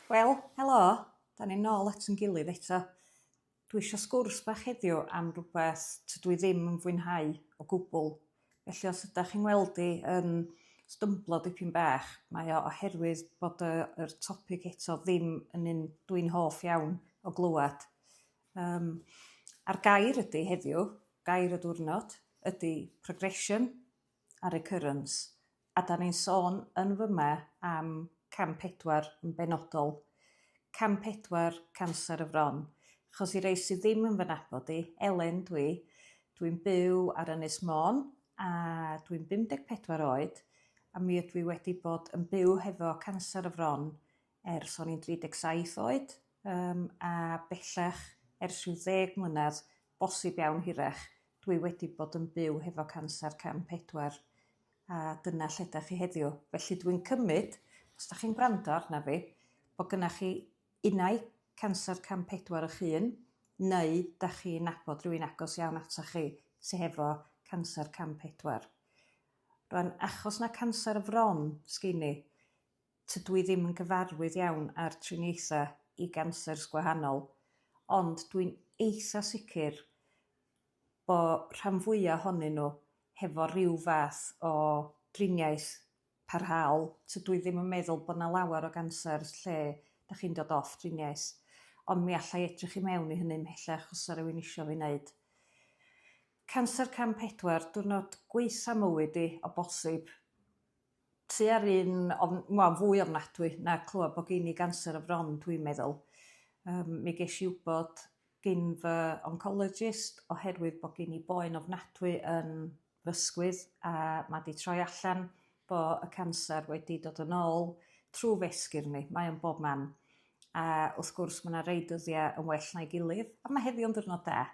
Wel, helo, 'da ni nôl at 'yn gilydd eto. Dwi isio sgwrs bach heddiw am rwbeth tydw i ddim yn fwynhau o gwbwl. Felly os ydach chi'n ngweld i yn stymblo dipyn bach, mae o oherwydd bod y yr topig eto ddim yn un dw i'n hoff iawn o glywad. Yym a'r gair ydi heddiw, gair y diwrnod, ydi progression a recurrence. A 'dan ni'n sôn yn fy 'ma am cam pedwar yn benodol. Cam pedwar canser y fron. Achos i rei sy ddim yn fy nabod i, Elen dw i. Dw i'n byw ar Ynys Môn a dw i'n 54 oed a mi ydw i wedi bod yn byw hefo canser y fron ers o'n i'n 37 oed yym a bellach ers rhyw ddeg mlynedd bosib iawn hirach dwi wedi bod yn byw hefo canser cam pedwar a dyna lle 'dach chi heddiw. Felly dwi'n cymyd os 'dach chi'n gwrando arna fi bod gynna chi unai canser cam pedwar eich hun neu 'dach chi'n nabod rhywun agos iawn atoch chi sy hefo canser cam pedwar. Rwan achos na canser y fron sgin i tydw i ddim yn gyfarwydd iawn â'r triniaethau i gansers gwahanol, ond dwi'n eitha sicr bo rhan fwya ohonyn nhw hefo rhyw fath o driniaeth parhaol, tydw i ddim yn meddwl bod 'na lawer o gansers lle dach chi'n dod off driniaeth, ond mi alla i edrych i mewn i hynny ymhellach os 'sa rywun isio fi neud. Canser cam pedwar, diwrnod gwaetha mywyd i o bosib. tua'r un ofn- wel fwy ofnadwy na clywed bo' gin i ganser y fron dwi'n meddwl. Yym mi gesh i wbod gin fy oncologist oherwydd bo' gin i boen ofnadwy yn fy 'sgwydd a ma' 'di troi allan bo' y canser wedi dod yn ôl trw f'esgyrn i. Mae o'n bob man. A wrth gwrs ma' 'na rei dyddia' yn well na'i gilydd a ma' heddiw'n ddiwrnod da.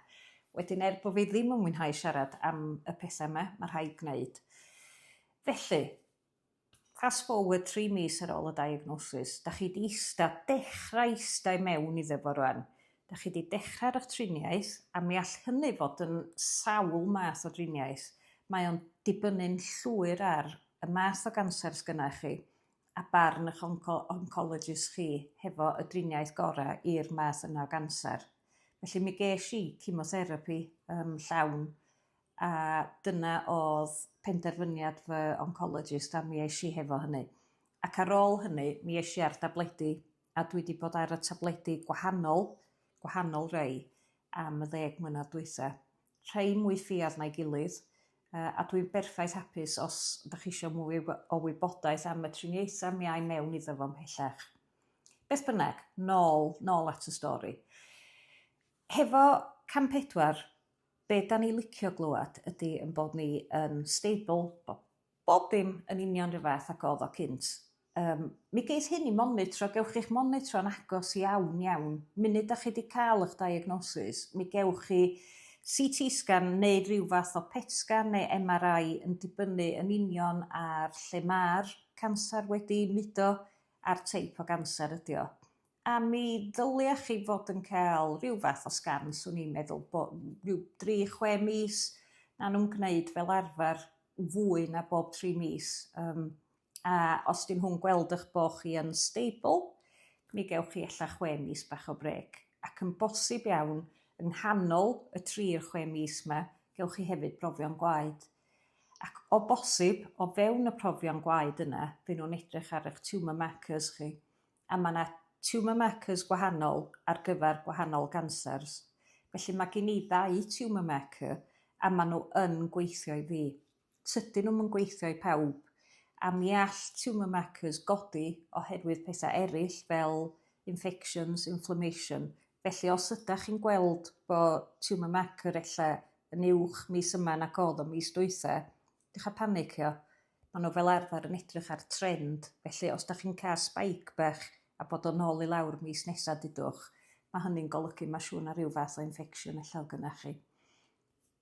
Wedyn er bo' fi ddim yn mwynhau siarad am y petha 'ma ma' rhai' gneud. Felly, fast forward tri mis ar ôl y diagnosis, da chi di ista, dechrau ista i mewn iddo fo rwan. Da chi di dechrau ar triniaeth, a mi all hynny fod yn sawl math o driniaeth. Mae o'n dibynnu'n llwyr ar y math o ganser sgynna chi, a barn ych onco- oncologist chi hefo y driniaeth gora i'r math yna o ganser. Felly mi gesh i cimotherapi yym llawn A dyna odd penderfyniad fy oncologist a mi esh i hefo hynny. Ac ar ôl hynny mi esh i ar dabledi a dwi 'di bod ar y tabledi gwahanol gwahanol rei am y ddeg mlynadd dwytha. Rhei mwy ffiaidd na'i gilydd yy a dwi'n berffaith hapus os dych chi isio mwy wy- o wybodaeth am y triniaetha mi ai mewn iddo fo mhellach. Beth bynnag, nôl nôl at y stori. Hefo cam pedwar be' 'dan ni licio glŵad ydi 'yn bod ni yn stable bo' bob dim yn union 'run fath ag odd o cynt yym mi geith hyn 'i monitro gewch chi'ch monitro'n agos iawn iawn munud 'dach chi 'di ca'l 'ych diagnosis mi gewch chi See Tee sgan neu ryw fath o pet sgan neu Em Are Eye yn dibynnu yn union ar lle ma'r canser wedi mudo a'r teip o ganser ydi o. a mi ddylia chi fod yn ca'l rhyw fath o sgan swn i'n meddwl bo' n- ryw dri chwe mis ma' nw'n gneud fel arfer fwy na bob tri mis yym a os 'dyn nhw'n gweld 'ych bo' chi yn stable mi gewch chi ella chwe mis bach o brêc ac yn bosib iawn yng nghanol y tri i'r chwe mis 'ma gewch chi hefyd brofion gwaed ac o bosib o fewn y profion gwaed yna by' nw'n edrych ar 'ych tumour markers chi. A ma' 'na tumour markers gwahanol ar gyfer gwahanol gancers. Felly ma' gin i ddau tumour marker a ma' nhw yn gweithio i fi. Tydyn nhw'm yn gweithio i pawb a mi all tumour markers godi oherwydd petha' eryll fel infections, inflammation. Felly os ydach chi'n gweld bo' tumour marker ella yn uwch mis yma nag odd o mis dwytha Dioch am panicio. Ma' n'w fel arfer yn edrych ar trend, felly os 'dach chi'n ca'l spike bach a bod o nôl i lawr mis nesa dudwch, ma' hynny'n golygu ma' siŵr 'na ryw fath o infection ella o' gynnoch chi.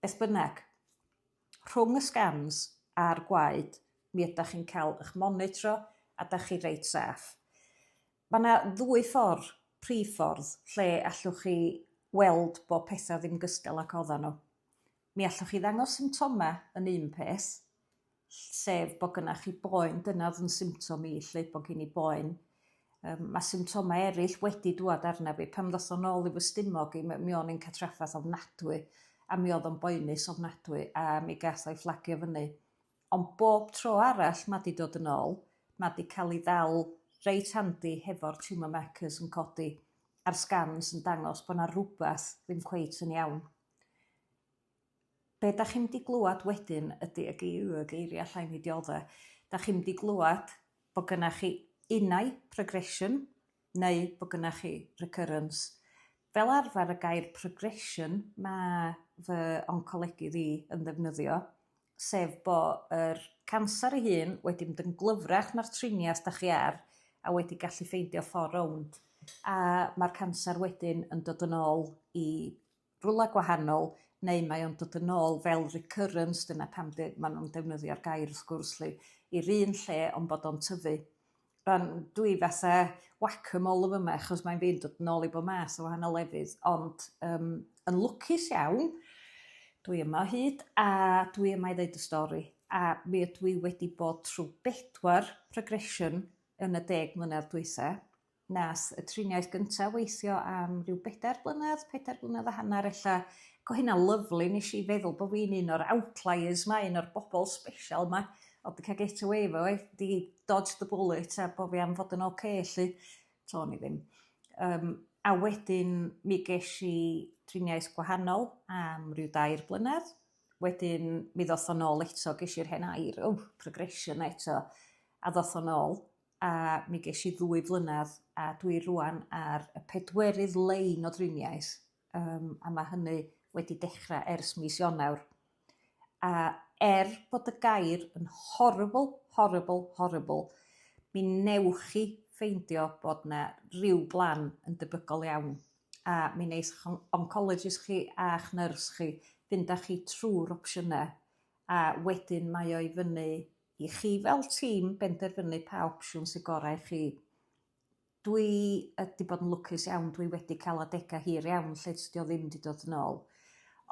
Beth bynnag, rhwng y scans a'r gwaed mi ydach chi'n ca'l 'ych monitro a 'dach chi reit saff. Ma' 'na ddwy ffor, prif ffordd, lle allwch chi weld bo' petha ddim gystal ag oddan nhw. Mi allwch chi ddangos symptomau yn un peth, sef bod gynnach chi boen, dyna oedd yn symptom i 'lly, bod gen i boen. Yym ma' symptomau eraill wedi dŵad arna fi pan ddoth o nôl i fy stumog i m- mi o'n i'n cael trafferth ofnadwy a mi oedd o'n boenus ofnadwy a mi gath o'i fflagio fyny. Ond bob tro arall ma' 'di dod yn ôl ma' 'di ca'l 'i ddal reit handi hefo'r tumour markers yn codi a'r sgans yn dangos bo' 'na rwbath ddim cweit yn iawn. be' dach chi'n mynd i glŵad wedyn ydi y gei- yy geiria' allai mi diodde'. Dach chi'm 'di glŵad bo' gynna' chi unai progression neu bo' gynna' chi recurrence. Fel arfer y gair progression ma' fy oncolegydd i yn ddefnyddio sef bo' yr canser ei hun wedi mynd yn glyfrach na'r triniath dach chi ar a wedi gallu ffeindio ffor rownd a ma'r canser wedyn yn dod yn ôl i rwla gwahanol neu mae o'n dod yn ôl fel recurrence dyna pam de- ma' nw'n defnyddio'r gair wrth gwrs 'lly i'r un lle on' bod o'n tyfu. Yym dwi fatha whack a mole yn fy ma' achos mae'n fi'n dod nôl i bo' math o wahanol lefydd ond yym yn lwcus iawn dwi yma o hyd a dwi yma i ddeud y stori a mi ydw i wedi bod trw' bedwar progression yn y deg mlynedd dwitha. Nath y triniaeth gynta weithio am ryw bedair blynedd, pedair blynedd a hanner ella. Ac o' hynna'n lyfli nesh i feddwl bo' fi'n un o'r outliers 'ma un o'r bobol sbesial 'ma o'dd 'di ca'l get away efo 'i 'di dodged the bullet a bo' fi am fod yn ocê 'lly. T'on ni ddim. Yym a wedyn mi gesh i driniaeth gwahanol am ryw dair blynedd wedyn mi ddoth o nôl eto gesh i'r hen air o progression eto a ddoth o nôl. a mi gesh i ddwy flynadd a dwi rŵan ar y pedwerydd lein o driniaeth yym a ma' hynny wedi dechra ers mis Ionawr a er bod y gair yn horrible horrible horrible mi newch chi ffeindio bod 'na ryw blan yn debygol iawn a mi neith 'ych on- oncologist chi a'ch nyrs chi fynd â chi trw'r opsiyne a wedyn mae o i fyny i chi fel tîm benderfynu pa opsiwn sy'n gorau i chi. Dwi yy 'di bod yn lwcus iawn dwi wedi ca'l adega hir iawn lle tydi o ddim 'di dod yn ôl.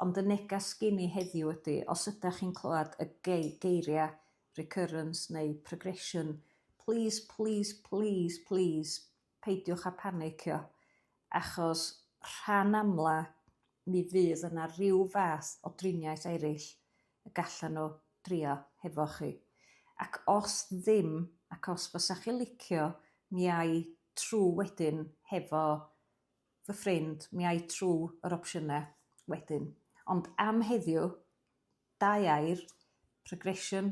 Ond y negas gin i heddiw ydi os ydach chi'n clywad y gei- geiria' recurrence neu progression plîs plîs plîs plîs peidiwch â phanicio, achos rhan amla mi fydd yna ryw fath o driniaeth eraill y gallan nhw drio hefo chi. Ac os ddim, ac os fysa chi licio, mi ai trw wedyn hefo fy ffrind, mi ai trw yr opsiynau wedyn. Ond am heddiw, dau air, progression,